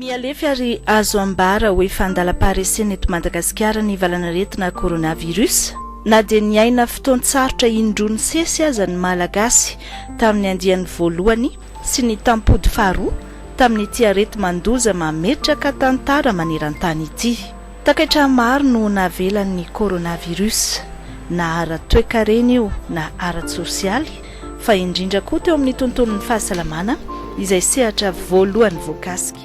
Mihalefy ary azo ambara ho efa andalam-paharesena eto Madagasikara ny valan'aretina coronavirus. Na dia niaina fotoan-tsarotra indroa nisesy aza ny Malagasy tamin'ny andiany voalohany sy ny tampody faharoa tamin'ity areti-mandoza mametraka tantara maneran-tany ity. Takaitra maro no navelan'ny coronavirus, na ara-toekarena io na ara-tsosialy, fa indrindra koa teo amin'ny tontolon'ny fahasalamana, izay sehatra voalohany voakasika.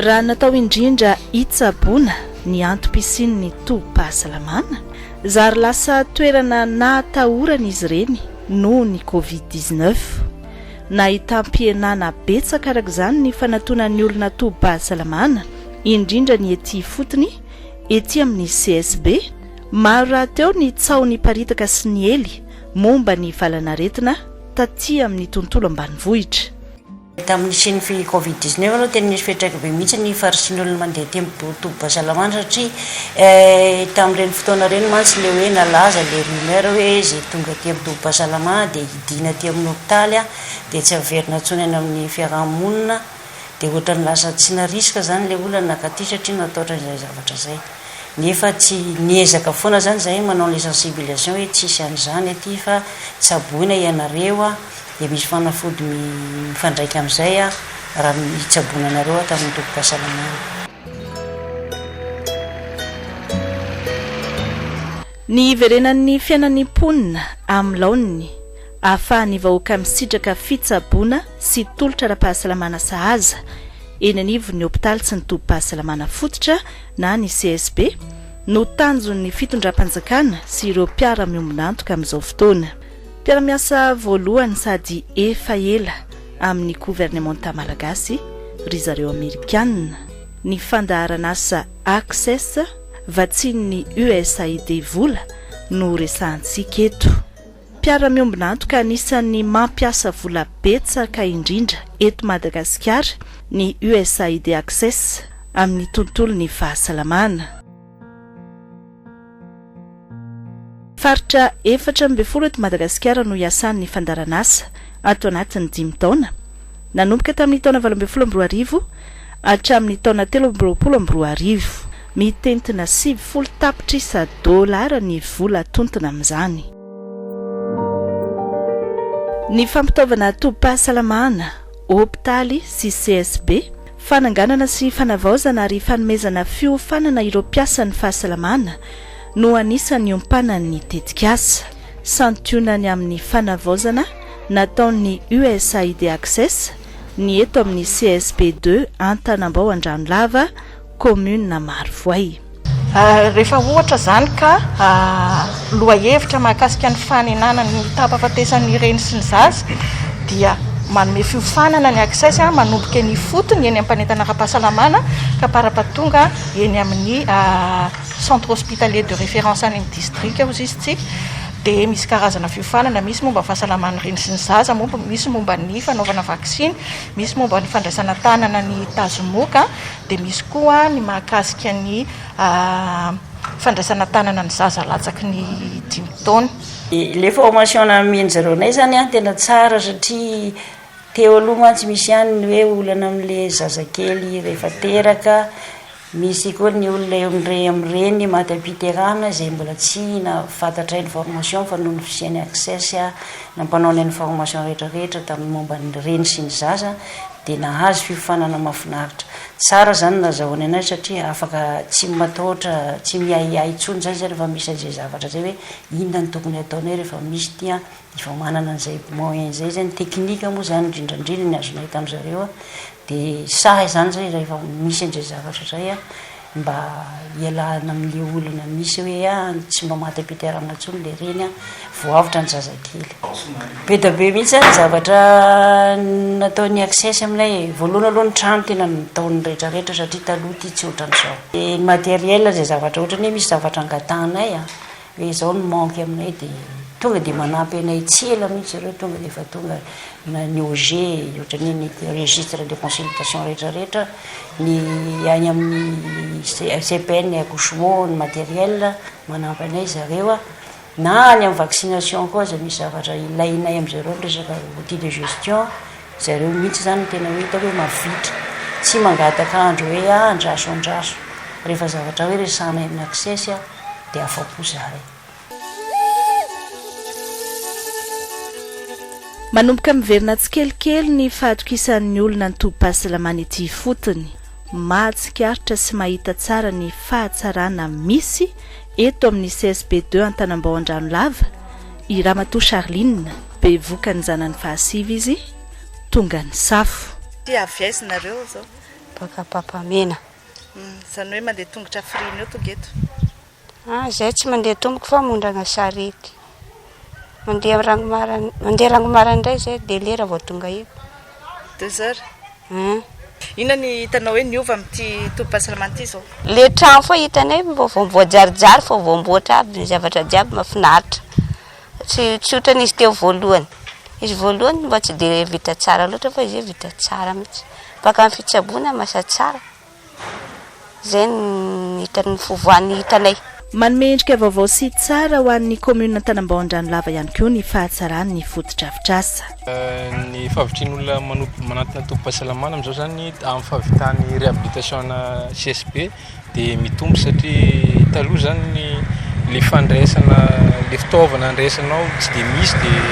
Raha natao indrindra hitsaboana ny antom-pisian'ny tobim-pahasalamana, zary lasa toerana nahatahoran'izy ireny noho ny covid dix-neuf. Nahitam-pihenana betsaka araka izany ny fanatonan'ny olona tobim-pahasalamana, indrindra ny ety ifotony, ety amin'ny CSB. Maro rahateo ny tsaho niparitaka sy niely momba ny valan'aretina taty amin'ny tontolo ambanivohitra. Tamin'ny nisian'ny fi covid dix neuf aloha tena nisy fiantraika be mihitsy ny faritriny olona mandeha ety amin'ny tobim-pahasalamana satria tamin'ireny fotoana ireny mantsy ilay hoe nalaza ilay rumeur hoe izay tonga ety amin'ny tobim-pahasalamana dia diana aty amin'ny hopitaly dia tsy averina intsony any amin'ny fiaraha-monina dia ohatran'ny lasa tsy narisika izany ilay olona nankaty satria natahotra izay zavatra izay nefa tsy niezaka foana izany izahay manao an'ilay sensibilisation hoe tsisy an'izany aty fa tsaboina ianareo a dia misy fanafody mifandraika amin'izay a raha mitsaboina anareo ato amin'ny tobim-pahasalamana. Ny hiverenan'ny fiainan'ny mponina amin'ny laoniny, ahafahan'ny vahoaka misitraka fitsaboana sy tolotra ara-pahasalamana sahaza eny anivon'ny hopitaly sy ny tobim-pahasalamana fototra na ny CSB, no tanjon'ny fitondram-panjakana sy ireo mpiara-miombon'antoka amin'izao fotoana. Mpiara-miasa voalohany sady efa ela amin'ny governemanta malagasy ry zareo Amerikana, ny fandaharan'asa Access, Vatsian'ny USAID vola no resahantsika eto. Mpiara-miombon'antoka anisan'ny mampiasa vola betsaka indrindra eto Madagasikara ny USAID Access amin'ny tontolon'ny fahasalamana. Faritra efatra ambin'ny folo eto Madagasikara no hiasan'ny fandaharanasa ato anatin'ny dimy taona, nanomboka tamin'ny taona valo ambin'ny folo amby roa arivo hatramin'ny taona telo amby roapolo amby roa arivo. Mitentina sivifolo tapitrisa dolara ny vola atontina amin'izany. Ny fampitaovana tobim-pahasalamana, hopitaly sy CSB, fananganana sy fanavaozana ary fanomezana fiofanana ireo mpiasan'ny fahasalamana, no anisan'ny niompanany ny tetikasa. Santionany amin'ny fanavaozana nataon'ny USAID Access ny eto amin'ny CSP deux Antanambao Andranolava, kaominina Marovoay. Rehefa ohatra izany ka lohahevitra mahakasika ny fanenana ny tahampahafatesan'ny reny sy ny zaza dia manome fiofanana ny Access manomboka eny ifotony eny am-panentana ara-pahasalamana ka parapatonga eny amin'ny Centre Hospitalier de Référence any amin'ny Distrika hozy izy tsy dia misy karazana fiofanana, misy momba ny fahasalaman'ny reny sy ny zaza, misy momba ny fanaovana vaksiny, misy momba ny fandraisana tanana ny tazomoka dia misy koa ny mahakasika ny fandraisana tanana ny zaza latsaky ny dimy taona. Ilay formation nanomeny zareo anay izany an tena tsara satria teo aloha mantsy misy ihany ny hoe olana amin'ilay zazakely rehefa teraka, Misy koa ny olona eo amin'ireny amin'ireny maty am-piterahana izay mbola tsy nahafatatra information fa noho ny fisian'ny access na mpanao ny information rehetrarehetra tamin'ny momba ny reny sy ny zaza dia nahazo fiofanana mahafinaritra. Tsara izany no nazahoany anay satria afaka tsy matahotra tsy miahiahy intsony izany izay rehefa misy an'izay zavatra izay hoe inona no tokony hataonay rehefa misy ity an! Efa manana an'izay moyen izay zay, ny technique moa zany indrindra indrindra ny azonay tamin'ny zareo dia sahy zany zay rehefa misy an'izay zavatra izay an, mba hialana amin'ilay olana misy hoe an, tsy mba maty am-piterahana intsony ilay reny an, vao avotra ny zazakely. Be dia be mihitsy ny zavatra nataon'ny access aminay e, voalohany aloha ny trano tena nataony rehetra rehetra satria taloha ity tsy ohatran'izao, dia ny matériel izay zavatra ohatran'ny hoe misy zavatra angatahanay an, Dia izao ny manque aminay dia tonga dia manampy anay tsy ela mihitsy zareo tonga dia efa tonga na ny OG ohatran'ny hoe ny registre de consultation rehetra rehetra, ny any amin'ny CPN et accouchement ny matériel manampy anay zareo na any amin'ny vaccination koa aza misy zavatra ilainay amin-dry zareo ny resaka outil de gestion zareo mihitsy izany no tena hoe hitako hoe mavitrika tsy mangataka andro hoe andraso andraso rehefa zavatra hoe resahanay amin'ny access. de afapo zare. Manomboka miverina tsikelikely ny fahatokisan'ny olona ny tobim-pahasalamana ety ifotony. Mahatsikaritra sy mahita tsara ny fahatsarana misy eto amin'ny CSB deux Antanambao Andranolava i Ramatoa Charline, bevoka ny zanany fahasivy izy, tonga nisafo. Ty avy aiza nareo zao. Baka Ampapamena. Izany hoe mandeha tongotra frime eo tonga eto? Ah, izay tsy mandeha tompoko fa mondrana sarety. Mandeha ranomaran mandeha ranomaran indray izay dia lera vao tonga eto. Deux heures? An. Inona ny hitanao hoe niova amin'ity tobim-pahasalamana ity izao? Le trano foa hitanay vao vao voajarijary vao vao amboatra aby ny zavatra jiaby mahafinaritra. Tsy tsotra ny izy teo voalohany. Izy voalohany mba tsy dia vita tsara loatra fa izy io vita tsara mihitsy. Mpaka ny fitsaboana no lasa tsara. Izay no hita ny fivoahan'ny hitanay. Manome endrika vaovao sy tsara ho an'ny kaominina Antanambao Andranolava ihany koa ny fahatsaran'ny fotodrafitrasa. Ny fahavitrian'olona manantona tobim-pahasalamana amin'izao izany amin'ny fahavitany réhabilitation ana CSB. dia mitombo satria taloha zany le fandraisana le fitaovana andraisanao tsy dia misy dia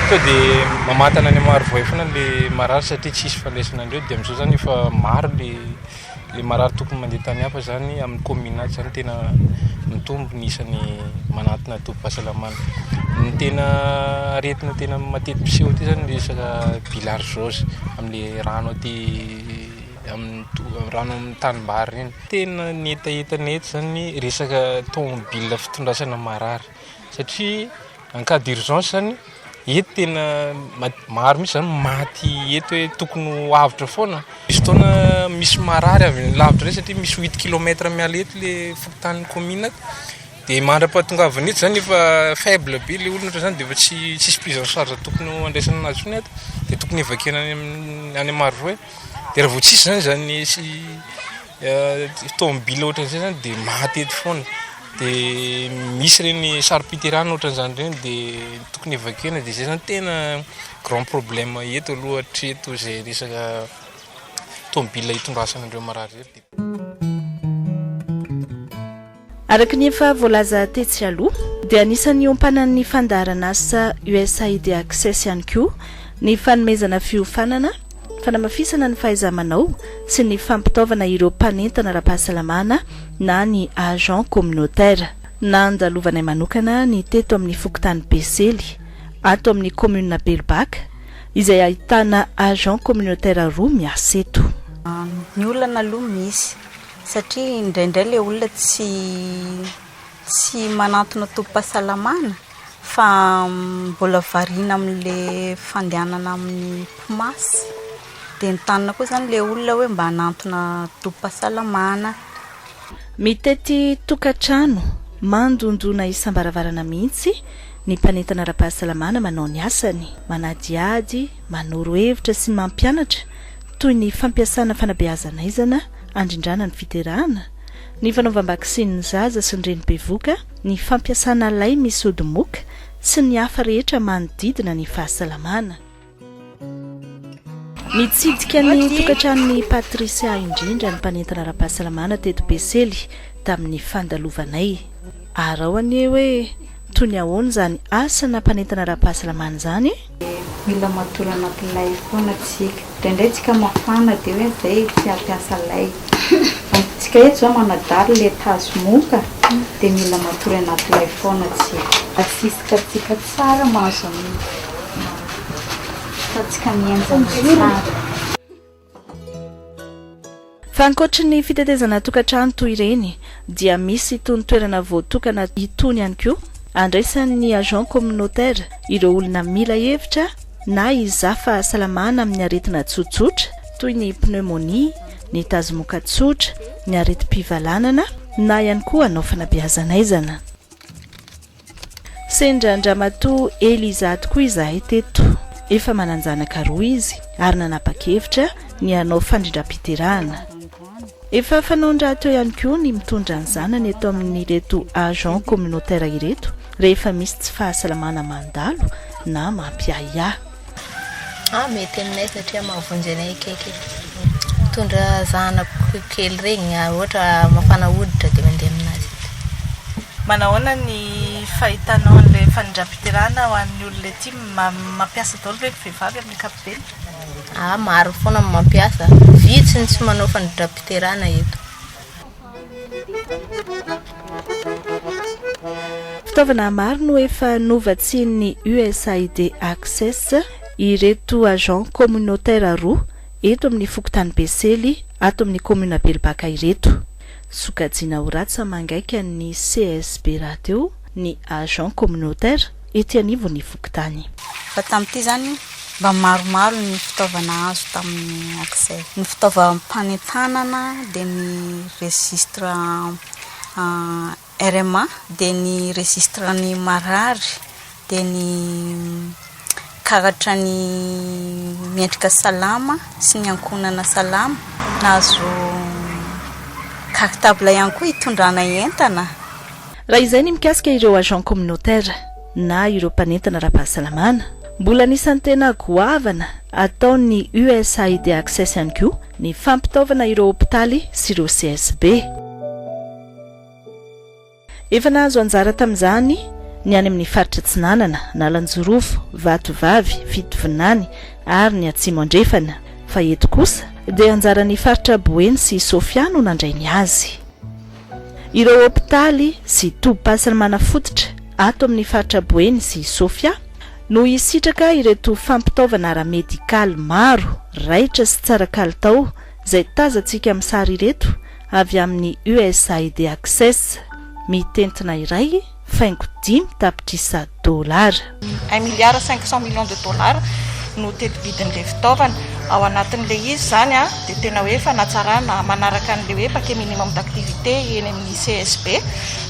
to de mamantana any Marovoay foana le marary satria tsisy fandraisana andreo dia amizao zany efa maro le le marary tokony mandeha tany hafa zany amin'ny commune ato zany tena mitombo ny isany manantona tobim-pahasalamana ny tena aretina tena matetipiseho aty zany le resaka bilharzose amle rano aty Rano amin'ny tanimbary ireny. Tena ny hetahetany eto izany ny resaka tomobile fitondrasana marary satria en cas d'urgence izany eto tena maro mihitsy izany maty eto hoe tokony ho avotra foana. Misy fotoana misy marary avy any lavitra indray satria misy huit kilomètre miala eto ilay fokontany commune ato dia mandra-pahatongavany eto izany efa faible be ilay olona ohatr'izany dia efa tsy tsisy prise en charge tokony ho andraisana an'azy intsony ato dia tokony evacuer-na any amin'ny any Marovoay. De raha vao tsisy zany zany tomobile ohatran'izay zany de maty eto foana de misy ireny saro-piterahana ohatran'izany ireny de tokony evacuena de zay zany tena grand problème eto aloha hatreto izay resaka tomobile hitondrasana an'ireo marary ireo. Araka ny efa voalaza tetsy aloha, dia anisan'ny hiompanan'ny fandaharan'asa USAID Access ihany koa ny fanomezana fiofanana, fanamafisana ny fahaiza-manao sy ny fampitaovana ireo mpanentana ara-pahasalamana na ny agents communautaires. Nandalovanay manokana ny teto amin'ny fokontany Besely, ato amin'ny kaominina Belobaka, izay ahitana agents communautaires roa miasa eto. Ny olana aloha misy, Satria indraindray ilay olona tsy tsy manantona tobim-pahasalamana fa mbola variana amin'ilay fandehanana amin'ny PMAS. Dia entanina koa izany ilay olona hoe mba hanantona tobim-pahasalamana. Mitety tokantrano, mandondona isam-baravarana mihitsy ny mpanentana ara-pahasalamana manao ny asany, manadihady, manoro hevitra sy mampianatra toy ny fampiasana fanabeazana aizana, handrindrana ny fiterahana, ny fanaovam-baksiny ny zaza sy ny reny bevoka, ny fampiasana lay misy ody moka sy ny hafa rehetra manodidina ny fahasalamana. Nitsidika ny tokantranon'i Patricia indrindra ny mpanentana ara-pahasalamana teto Besely tamin'ny fandalovanay. Arao anie hoe toy ny ahoana izany asana mpanentana ara-pahasalamana izany e? Mila matory anaty lay foana tsika. Indraindray tsika mafana dia hoe zay tsy hampiasa lay. Tsika eto zao manadalo le tazo moka dia mila matory anaty lay foana tsika. Asisitra tsika tsara mahazo an'io fa tsika mienjana tsara. Fa ankoatry ny fitetezana tokantrano toy ireny dia misy itony toerana voatokana itony ihany koa andraisan'ny agents communautaires ireo olona mila hevitra na hizaha fahasalamana amin'ny aretina tsotsotra toy ny pneumonie, ny tazomoka tsotra, ny aretim-pivalanana na ihany koa hanao fanabeazan'aizana. Sendra an-dramatoa Eliza tokoa izahay teto. Efa manan-janaka roa izy ary nanapa-kevitra ny hanao fandrindram-piterahana. Efa fanaon-drahateo ihany koa ny mitondra ny zanany eto amin'ireto agents communautaires ireto rehefa misy tsy fahasalamana mandalo na mampiahiahy. Ah mety aminay satria mahavonjy anay akaiky e. Mitondra zanako kely regny raha ohatra mafana hoditra dia mandeha aminazy eto. Manahoana ny fahitanao an'ilay fanindrampiterahana ho an'ny olona ety? Mampiasa daholo ve ny vehivavy amin'ny ankapobeny? Ah maro foana ny mampiasa, vitsy ny tsy manao fanindrampiterahana eto. Fitaovana maro no efa novatsian'ny USAID Access ireto agents communautaires roa eto amin'ny fokontany Besely ato amin'ny commune Belobaka ireto. Sokajiana ho ratsy amangaika ny CSB rahateo ny agents communautaires etsy anivon'ny fokontany. Fa tamin'ity izany, mba maromaro ny fitaovana azo tamin'ny Accès. Ny fitaovam-panentanana dia ny registre RMA, dia ny registre ny marary, dia ny karatra ny mendrika salama sy ny ankohonana salama. Nahazo cartable ihany koa hitondrana entana. Raha izay ny mikasika ireo agents communautaires na ireo mpanentana ara-pahasalamana. Mbola anisan'ny tena goavana ataon'ny USAID Access ihany koa ny fampitaovana ireo hopitaly sy ireo CSB. Efa nahazo anjara tamin'izany ny any amin'ny faritra Atsinanana, Analanjirofo, Vatovavy, Fitovinany ary ny Atsimo Andrefana fa eto kosa dia anjaran'ny faritra Boeny sy Sofia no nandray ny azy. Ireo hopitaly sy tobim-pasiny manafototra ato amin'ny faritra Boeny sy Sofia no hisitraka ireto fampitaovana ara-medikaly maro raitra sy tsara kalitao izay tazantsika amin'ny sary ireto avy amin'ny USAID Access. Mitentina iray. faingo dimy tapitrisa dolara. Un milliard cinq cent millions de dollars no teti-bidin'ilay fitaovana. Ao anatin'ilay izy izany dia tena hoe fanatsarana manaraka an'ilay hoe paquet minimum d'activité eny amin'ny CSB.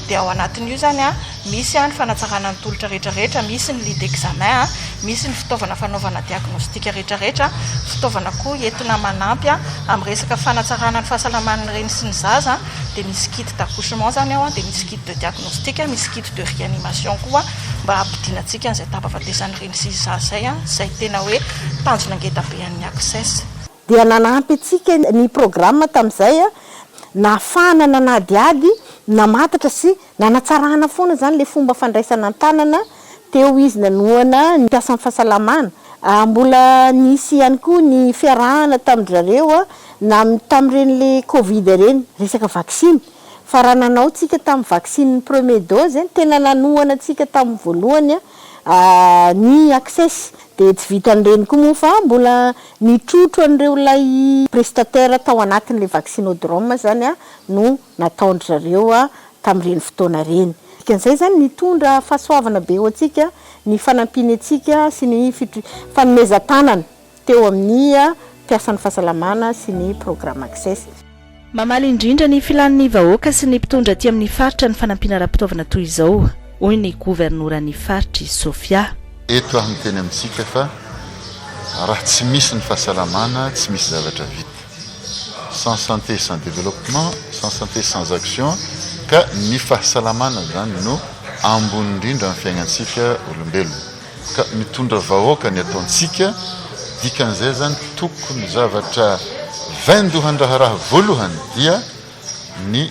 Dia ao anatin'io izany misy ny fanatsarana ny tolotra rehetrarehetra, misy ny lit d'examen, misy ny fitaovana fanaovana diagnostic rehetrarehetra, fitaovana koa entina manampy amin'ny resaka fanatsarana ny fahasalaman'ny reny sy ny zaza, dia misy kit d'accouchement izany ao, dia misy kit. de diagnostic, misy kit de réanimation koa mba hampidina antsika an'izay tapafatesan'ireny sy izà izay, izay tena hoe tanjona ngeda be an'ny ACCESS. Dia nanampy antsika ny programa tamin'izay, nahafahana nanadihady, namantatra sy nanatsarana foana izany ilay fomba fandraisana an-tanana teo izy nanohana ny mpiasan'ny fahasalamana. Mbola nisy ihany koa ny fiarahana tamin-dry zareo na tamin'ireny le covid ireny, resaka vaksiny, fa raha nanao tsika tamin'ny vaccine ny premier dose eh, tena nanohana antsika tamin'ny voalohany an, ny access dia tsy vitan'ireny koa moa fa mbola nitrotro an'ireo ilay prestataire tao anatin'ilay vaccinodrome izany no nataon-dry zareo tamin'ireny fotoana ireny. Dikan'izay izany nitondra fahasoavana be ho antsika ny fanampiany antsika sy ny fanomezan-tanana. teo amin'ny mpiasan'ny fahasalamana sy ny Programme Access. Mamaly indrindra ny filan'ny vahoaka sy ny mpitondra aty amin'ny faritra ny fanampiana ara-pitaovana toy izao, hoy ny governoran'ny faritra i Sofia. Eto aho miteny amintsika fa raha tsy misy ny fahasalamana, tsy misy zavatra vita. Sans santé, sans développement, sans santé, sans action, ka ny fahasalamana izany no ambony indrindra amin'ny fiainantsika olombelona. Ka mitondra vahoaka ny ataontsika, dikan'izay izany tokony zavatra vaindohan-draharaha voalohany dia ny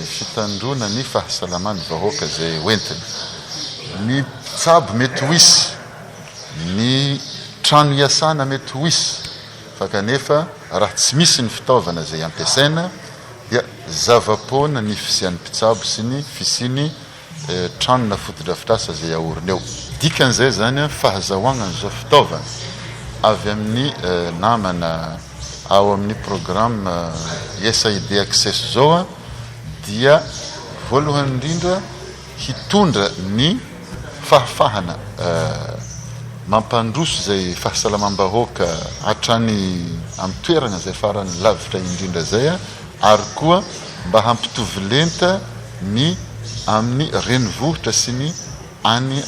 fitandroana ny fahasalaman'ny vahoaka izay hoentiny. Ny mpitsabo mety ho hisy, ny trano hiasana mety ho hisy fa kanefa raha tsy misy ny fitaovana izay ampiasaina dia zava-poana ny fisian'ny mpitsabo sy ny fisian'ny trano na fotodrafitrasa izay aorina eo. Dikan'izay izany, fahazahoagna an'izao fitaovagna avy amin'ny namana ao amin'ny programme USAID Access izao dia voalohany indrindra hitondra ny fahafahana mampandroso izay fahasalamam-bahoaka hatrany amin'ny toeragna izay farany lavitra indrindra izay, ary koa mba hampitovy lenta ny amin'ny renivohitra sy ny any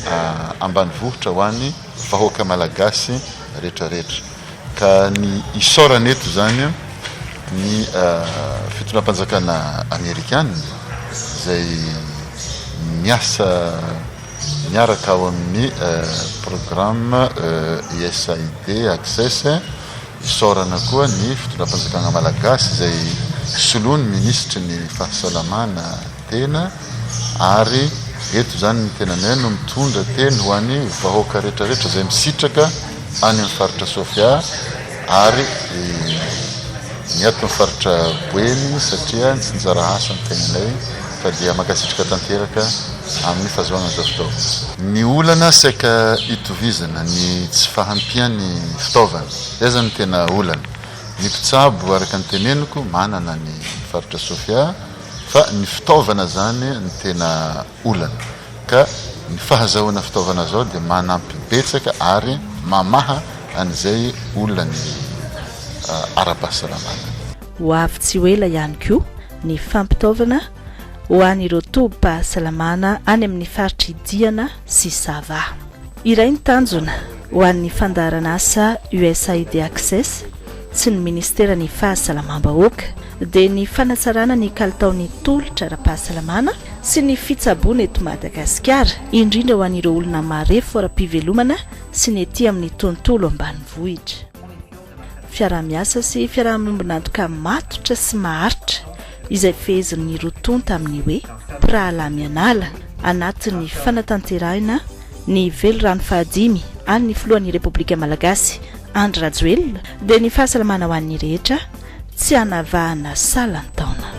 ambanivohitra ho an'ny vahoaka malagasy retraretra ka ny isaorana eto izany ny fitondram-panjakana amerikana izay miasa miaraka ao amin'ny programme USAID access Fisaorana koa ny fitondram-panjakana malagasy izay soloin'ny minisitry ny fahasalamana tena ary eto izany ny tenanay no mitondra teny ho an'ny vahoaka retraretra izay misitraka any amin'ny faritra Sofia ary ny ato amin'ny faritra Boeny satria tsy nizara asa ny tenanay fa dia mankasitraka tanteraka amin'ny fahazoana an'izao fitaovana. Ny olana saika itovizana ny tsy fahampian'ny fitaovana, izay izany no tena olana. Ny mpitsabo araka ny teneniko manana ny faritra Sofia fa ny fitaovana izany no tena olana ka ny fahazahoana fitaovana izao dia manampy betsaka ary mamaha an'izay olany ara-pahasalamana. Ho avy tsy ho ela ihany koa ny fampitaovana ho an'ireo tobim-pahasalamana any amin'ny faritr'i Diana sy Sava. Iray ny tanjona ho an'ny fandaharan'asa USAID Access sy ny Ministeran'ny Fahasalamam-bahoaka dia ny fanatsarana ny kalitaon'ny tolotra ara-pahasalamana sy ny fitsaboana eto Madagasikara, indrindra ho an'ireo olona marefo ara-pivelomana sy ny ety amin'ny tontolo ambanivohitra. fiaraha-miasa sy fiaraha-miombon'antoka matotra sy maharitra izay fehezin'ny roa tonta amin'ny hoe mpirahalahy mianala anatin'ny fanatanterahina ny velirano fahadimy an'ny filohan'ny Repoblika Malagasy Andry Rajoelina dia ny fahasalamana ho an'ny rehetra tsy hanavahana salan-taona.